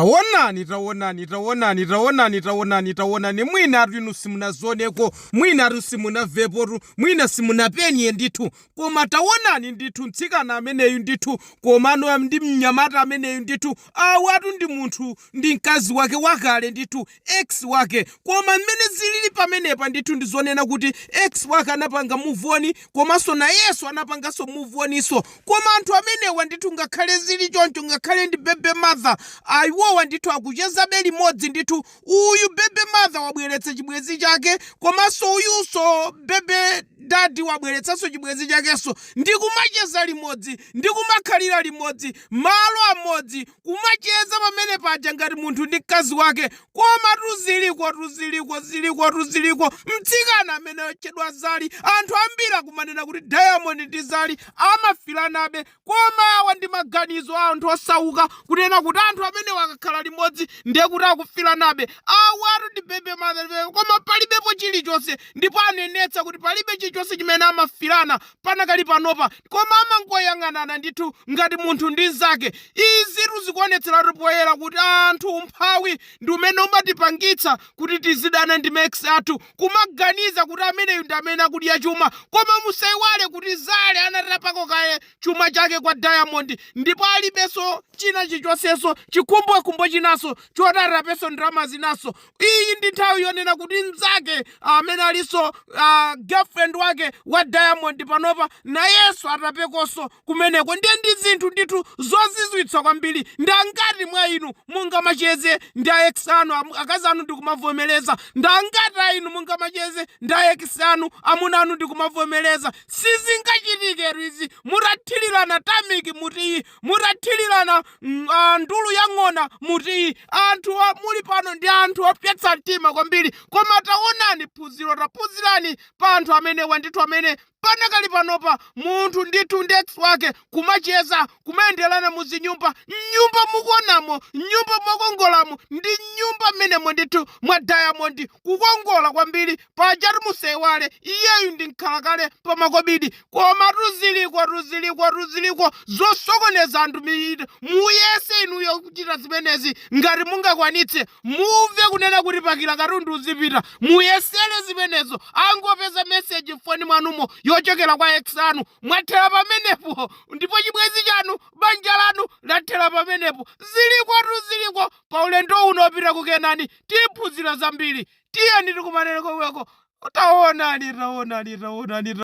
Taonani, taonani, taonani, taonani, taonani, taonani, mwinatu inu simunazioneko, mwinatu simunamvepotu, mwina simunapenye ndithu, koma taonani ndithu mtsikana ameneyu ndithu, komano ndi mnyamata ameneyu ndithu, awatu ndi munthu, ndi mkazi wake wakale ndithu, ex wake. Koma mmene zilili pamenepa ndithu ndi zonena kuti ex wake anapanga move on komanso nayenso anapanganso move on nso. Koma anthu amenewa ndithu ngakhale zili choncho ngakhale ndi baby mother ayi iwowa ndithu akuchezabe limodzi ndithu. Uyu baby mother wabweretsa chibwenzi chake komanso uyunso baby daddy wabweretsanso chibwenzi chakenso ndi kumacheza limodzi ndi kumakhalira limodzi malo amodzi kumacheza pamene paja ngati munthu ndi mkazi wake komatu zilikotu ziliko zilikotu ziliko mtsikana ameneyu otchedwa Zari anthu ambiri akumanena kuti Diamond ndi Zari amafilanabe koma awa ndi maganizo a anthu osauka kunena kuti anthu amenewa akakhala limodzi ndiye kuti akufilanabe awatu ndi baby mother baby koma palibepo chilichonse ndipo anenetsa kuti palibe chilichonse chimene amafilana panakali panopa, koma amangoyang'anana ndithu ngati munthu ndi mzake. Izitu zikuonetseratu poyera kuti anthu umphawi ndi umene umatipangitsa kuti tizidana ndi ma ex athu, kumaganiza kuti ameneyu ndi amene akudya chuma. Koma musaiwale kuti Zari anatapako kaye chuma chake kwa Diamond ndipo alibenso china chilichonsenso, chikhumbokhumbo chinanso choti atapenso ndalama zinanso. iyi ndi nthawi yonena kuti mnzake amene alinso uh, girlfriend wake wa Diamond panopa nayenso atapekonso kumeneko ndiye ndi zinthu ndithu zozizwitsa kwambiri ndi angati mwa inu mungamacheze ndi a ex anu am- akazi anu ndikumavomereza ndi angati a inu mungamacheze ndi a ex anu amuna anu ndikumavomereza sizingachitike izi mutathirirana tameki mu tiyi Mutathirirana ng- ah, ndulu ya ng'ona mu tiyi anthu a- muli pano ndi anthu opyetsa mtima kwambiri koma taonani phunziro taphunzirani pa anthu amenewa ndithu amene panakali panopa munthu ndithu ndi ex wake kumacheza kumayenderana muzinyumba mnyumba mukuonamo mnyumba mwakongolamo ndi mnyumba mmenemo ndithu mwa Diamond kukongola kwambiri Pajatu musaiwale iyeyu ndi mkhalakale pa makobidi komatu zilikotu zilikotu ziliko zosokoneza anthu mitu muyese inuyo kuchita zimenezi ngati mungakwanitse mumve kunena kuti pakila katundu uzipita muyesele zimenezo angopeza message m'foni mwanumo yochokera kwa ex anu mwathera pamenepo ndipo chibwenzi chanu banja lanu lathera pamenepo zilikotu ziliko pa ulendo uno opita ku Kenani tiphunzira zambiri tiyeni tikumane komweko taonani taonani taonani